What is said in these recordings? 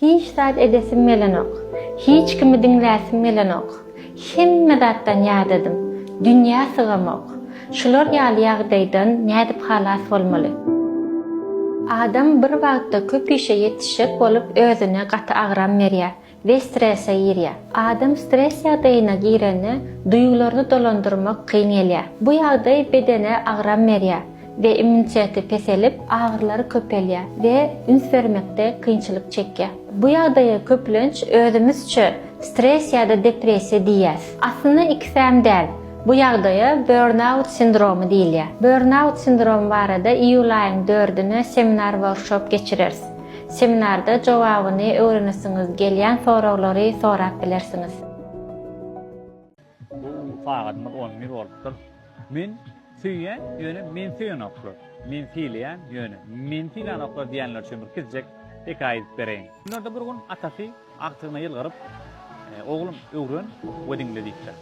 Hiç zat edesim gelenok. Hiç kimi diňläsim gelenok. Hemme zatdan ýadadym. Dünýä sygamok. Şular ýaly ýagdaýdan nädip halas bolmaly? Adam bir wagtda köp işe ýetişjek bolup özüne gaty agram berýär we strese girýär. Adam stres ýagdaýyna girende duýgularyny dolandyrmak kyn gelýär. Bu ýagdaý bedene agram berýär. we immuniteti peselip, agyrylary köpelýär we üns bermekde kynçylyk çekýär. Bu ýagdaýa köplenç özümizçe stress ýa-da depressiýa diýýäs. Aslynda ikisem däl. Bu ýagdaýa burnout sindromy diýilýär. Burnout sindromy barada iýul aýyň dördüne seminar workshop geçireris. Seminarda jogabyny öwrenesiňiz gelýän soraglary sorap bilersiňiz. Bu sagadymyz on bir bolupdyr. Men söýýän, ýöne meni söýenoklar. Men sylaýan, ýöne meni sylanoklar diýenler üçin bir kiçijek hekaýa edip bereýin. Günlerde bir gün atasy agtygyna ýylgyryp, Oglum, öwren we diňle diýipdir.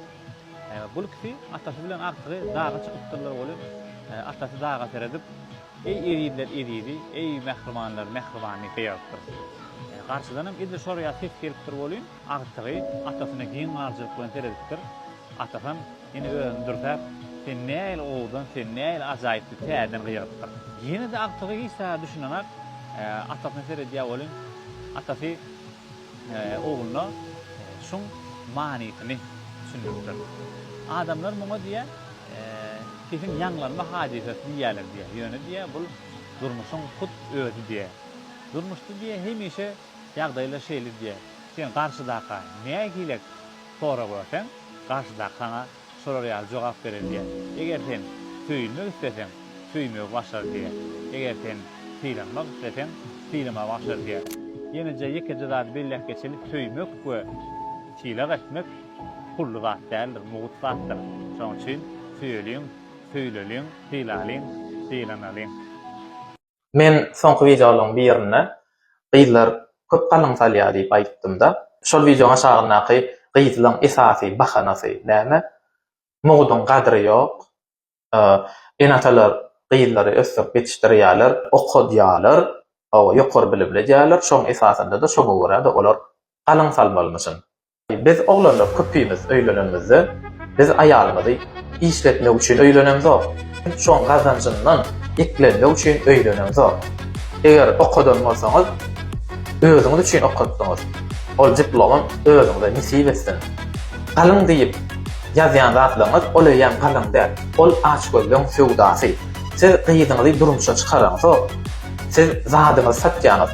Bul ikisi atasy bilen agtygy daga çykypdyrlar welin, atasy daga seredip, Eý ezizler ezizi, eý mähribanlar mähribany diýipdir. Garşydanam edil şor ýaly ses gelipdir welin, Agtygy atasyna giň galjalyk bilen seredipdir. Atasam ýene özüni dürsäp, Sen nähili owadan, sen nähili ajaýyp diýip täzeden gygyrypdyr. Ýene-de agtygy hiç zada düşünenak atasyna seredýär welin, atasy ogluna şuň manysyny düşündiripdir. Adamlar muňa diýýär, Sesiň ýaňlanma hadysasy diýýärler diýýär. Ýöne diýýär, bul durmuşyň hut özi diýýär. Durmuşda diýýär, hemişe Ýagdaýlar şeýle diýýär. Sen garşydakyga nähilek sorag berseň, garşydaky saňa şolar ýaly jogap berer diýýär. Eger sen söýülmek isleseň, söýmegi başar diýýär. Eger sen sylanmak isleseň, sylamagy başar diýýär. Ýeneje ýekeje zady belläp geçeli, söýmek we sylag etmek pully zat däldir, mugt zatdyr. Şonuň üçin söýeliň, söýüleliň, sylalyň, sylanalyň. Men soňky wideolaryň birinde gyzlar köp galyň salýar diýip aýtdymda, şol wideoň aşagyndaky gyzlaň esasy bahanasy näme? Mugduň gadry ýok, ene-atalar gyzlary ösdürip ýetişdirýärler, okadýarlar, hawa ýokary bilimli edýärler, şoň esasynda-da şoňa görä-de olar galyň salmalymyşyn. Biz oglanlar köpimiz öýlenenimizde biz aýalymyzy işletmek üçin öýlenemzok, şoň gazanjyndan eklenmek üçin öýlenemzok. Eger okadan bolsaňyz özüňiz üçin okatdyňyz, ol diplomam özüňize nesip etsin. Galyň diýip ýazýan zatlaryňyz ol eýýäm galyň däl, ol açgözlüň söwdasy. Siz gyzyňyzy durmuşa çykaraňzok, siz zadyňyzy satýaňyz.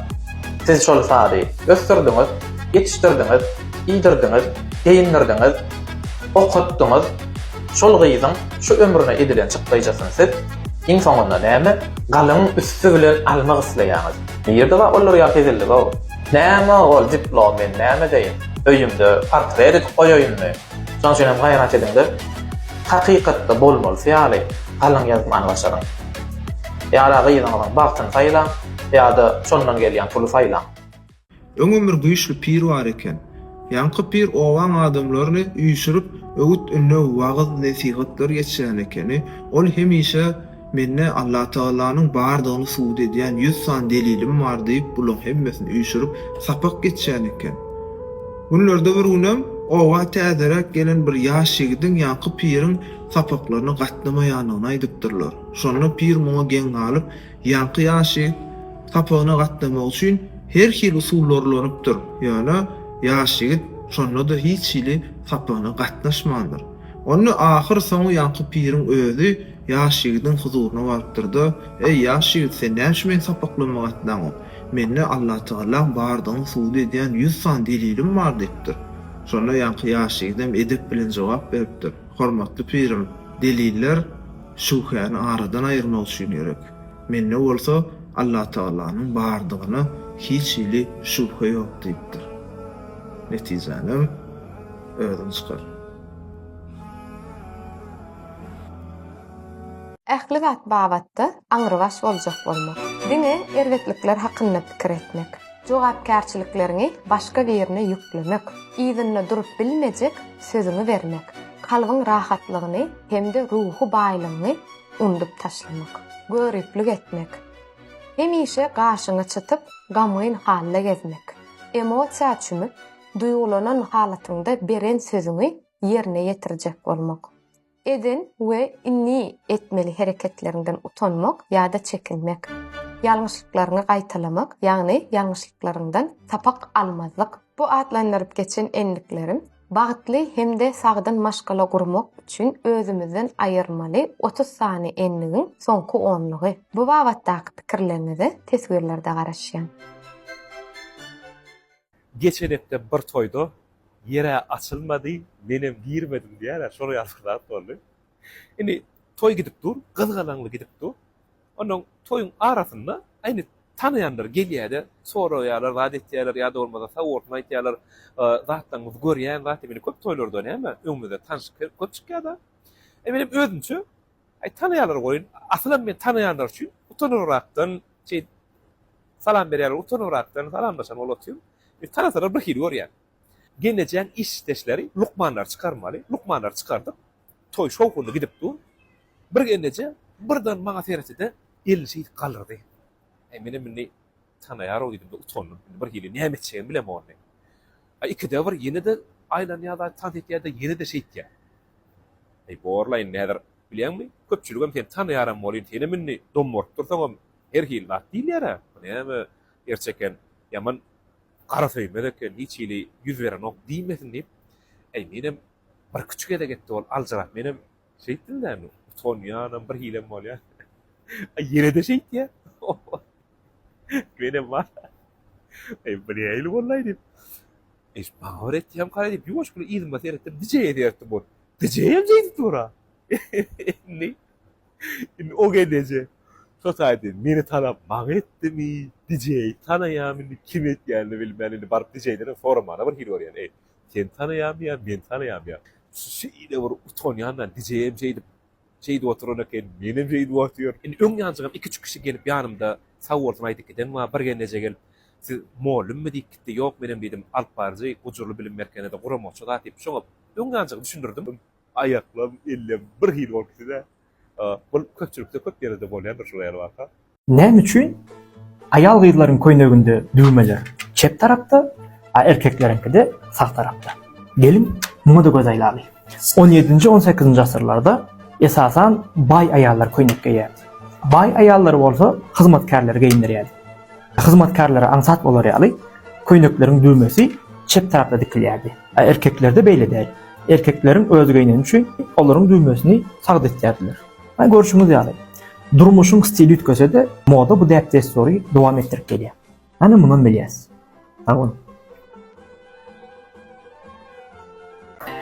Siz şol sazy ösdürdiňiz, ýetişdirdiňiz, iýdirdiňiz, geýindirdiňiz, okatdyňyz, şol gyzyň şu ömrüne edilen çykdaýjasyn siz, iň soňunda näme, galyň üsti bilen almak isleýäňiz. Nirde bar olar ýaly hezillik-ow? Näme ol diplom men näme edeýin? Öýümde portret edip goýaýynmy? Şoň üçin hem gaýrat ediňde hakykatda bolmalysy ýaly galyň ýazmany başaryň. Ýa-da gyzyňyzyň bagtyny saýlaň, ýa-da şondan gelýän puly saýlaň. Öňem bir güýçli pir bar eken. Ýaňky pir obaň adamlaryny üýşürip, öwüt-ündew, wagyz-nesihatlar geçirýän ekeni. Ol hemişe. Mende Allatagalanyň bardygyny subut edýän ýüz sany delilim bar diýip, bulaň hemmesini üýşürip, sapak geçýän eken. Günlerde bir günem oba täzeräk gelen bir ýaş ýigidiň ýaňky piriň sapaklaryna gatnamaýandygyny aýdypdyrlar. Şonda pir muňa geň galyp, ýaňky ýaş ýigit sapagyna gatnamak üçin her hili usullar ulanypdyr, ýöne ýaş ýigit şonda-da hiç hili sapagyna gatnaşmandyr. Onda ahyr-soňy ýaňky piriň özi Ýaş ýigidiň huzuryna barypdyr-da, Eý, ýaş ýigit, sen näme üçin meni sapaklanmaga atlanok? Mende Allatagalaň bardygyny subut edýän ýüz sany delilim bar diýipdir. Şonda ýaňky ýaş ýigidem edep bilen jogap beripdir, Hormatly pirim, deliller şübhäni aradan aýyrmak üçin gerek. Mende bolsa Allatagalanyň bardygyna hiç hili şübhe ýok diýipdir. Netijänem özüň çykar. Ähli zat babatda aňrybaş boljak bolmak. Diňe erbetlikler hakynda pikir etmek. Jogapkärçilikleriňi başga birine ýüklemek. Yzynda durup bilmejek sözüňi bermek. Kalbyň rahatlygyny hem-de ruhy baýlygyňy undup taşlamak. Göriplik etmek. Hemişe gaşyňy çytyp, gamgyn halda gezmek. Emosiýa çümüp, duýgulanan halatyňda beren sözüňi ýerine ýetirjek bolmak. Eden we indi etmeli hereketleriňden utanmak ýa-da çekinmek. Ýalňyşlyklaryňy gaýtalamak, ýagny ýalňyşlyklaryňdan sapak almazlyk. Bu atlandyryp geçen endiklerim bagtly hem-de sagdyn maşgala gurmak üçin özümizden aýyrmaly otuz sany endigiň soňky onlugy. Bu babatdaky pikirleriňize teswirlerde garaşýan. Geçen hepde bir toýda ýere açylmady, menem girmedim diýýärler, şol ýaly zat boldy. Indi toý gidip dur, gyzgalaňly gidip dur. Onnoň toýuň arasynda indi tanaýanlar gelýär-de, soraýarlar, zat etýärler ýa-da bolmasa sag bolsun aýtýarlar. Zatlaryňyzy görýän zat, indi köp toýlarda näme, öňümizde tanyş köp çykýar-da. Menem özümçe Aý tanaýarlar goýun, asylam men tanaýanlar üçin utanybrakdan şeýdip salam berýärler, utanybrakdan salamlaşan bolup otyryn. Indi tanasalar bir hili görýän. Gelnejeň işdeşleri lukmanlary çykarmaly, lukmanlary çykardyk. Toý şowhunly gidip dur. Bir gelneje birden maňa seretdi-de, elini şeýdip galdyrdy. Aý menem indi Tanaýar-ow diýdim-de utandym. Indi birhili näme etjegimi bilemok indi. A ikide bir ýene-de aýlanýar-da, tans etýär-de, ýene-de şeýtýär. Eý, bor-la indi häzir, bilýäňmi, köpçüligem seni tanaýaram welin, senem indi dom bolup dursaňam, her hili zat diýilýär-ä. Bu näme gerçi eken, ýaman garasöýmez eken, hiç hili ýüz berenok diýmesin diýip, eý, menem birküç gezek etdi ol aljyrap, menem Şeýtdim näme, utanýanam, bir hilem bolýar. Aý, ýene-de şeýtýär. Menem bar. Aý, bu nähili bollaý diýip. Eý, maňa bir etýäm karaý diýip, ýuwaş bir yzyma seretdim, dijeýe seretdim ol. Dijeýem şeýdip dur-a. Indi, indi o gedeje totaýdy, meni tanap maňa etdimi, dijeýi tanaýam indi, kim etýänini bilmän, indi baryp dijeýden hem soramana bir hili görýän, eý. Sen tanaýarmy ýa men tanaýarmy ýa? Şu şeýle bir utanýandan gijeýem şeýdip, şeýdip oturan eken, menem şeýdip otyr. Indi öň ýanjygym iki-üç kişi gelip ýanymda sag bolsun aýdyp giden bar, bir gelneje gelip, Siz mollymmy diýip gitdi, ýok menem diýdim, alyp baryjy, gujurly bilim merkenede guramakçy zat diýip, şoňa öň ýanjygy düşündirdim. Aýaklam, ellem bir hili bolup gitdi-de. Bul köpçülikde köp ýerde bolýandyr şular ýaly waka. Näme üçin aýal-gyzlaryň köýneginde düwmeler çep tarapda, a erkekleriňkide sag tarapda? Geliň, muňa-da göz aýlaly. On ýedinji, on sekizinji asyrlarda esasan baý aýallar köýnek geýýärdi. Baý aýallary bolsa hyzmatkärleri geýindirýärdi. Hyzmatkärlere aňsat bolar ýaly, köýnekleriň düwmesi çep tarapda dikilýärdi. A erkeklerde beýle däl. Erkekleriň öz geýneni üçin olaryň düwmesini sagda etýärdiler. Ýa görşüňiz ýaly, durmuşyň stili üýtgese-de, moda bu däp-dessury dowam etdirip gelýär. Hany mundan bilýäs. Sag boluň.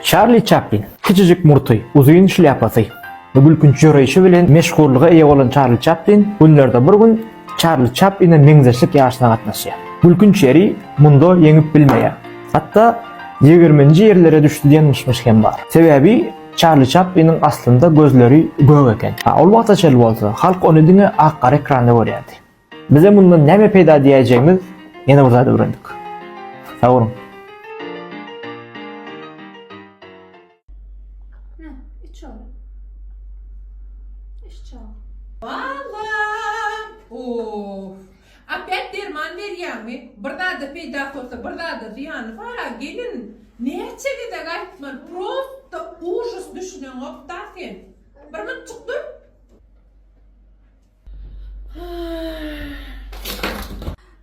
Çarli Çaplin. Kiçijik murty, uzyn şlýapasy we gülkünç ýöreýşi bilen meşhurlyga eýe bolan Çarli Çaplin günlerde bir gün Çarli Çapline meňzeşlik ýaryşyna gatnaşýar. Gülkünç ýeri, munda ýeňip bilmeýär. Hatda ýigirminji ýerlere düşdi diýen myş-myş hem bar. Sebäbi Çarli Çapliniň aslynda gözleri gök eken. Ol wagta çenli bolsa, halk ony diňe ak-gara ekranda görýärdi. Bize mundan näme peýda diýäýjegimiz ýene bir zat öwrendik. Sag boluň! Opýat derman berýäňmi? Bir zada peýdasy bolsa bir zada zyýany bara gelin. Näçe gezek aýtmaly prosta ujus düşüneňokda sen. Bir mytjyk dur.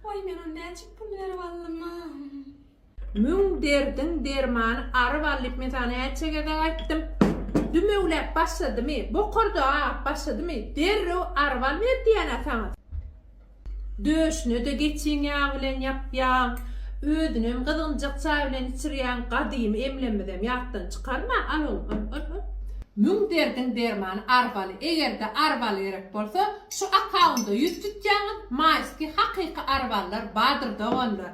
Oý men ony näçik pul berip aldym. Müň derdiň dermany ary bal diýip men saňa näçe gezek aýtdym. Dümewläp başladymy, bokurdagy agap başladymy, derrew ary bal ber diýýän-ä saňa. Döşüne-de geçiň ýagy bilen ýapýaň, özünem gyzgynjak çaý bilen içirýäň, gadymy emlemizem ýatdan çykarma, al oglum, al, al, al. Müň derdiň dermany ary baly. Eger-de ary bal gerek bolsa, şu akkaunda ýüz tutýaňyz, maýski hakyky ary ballar bardyr doganlar.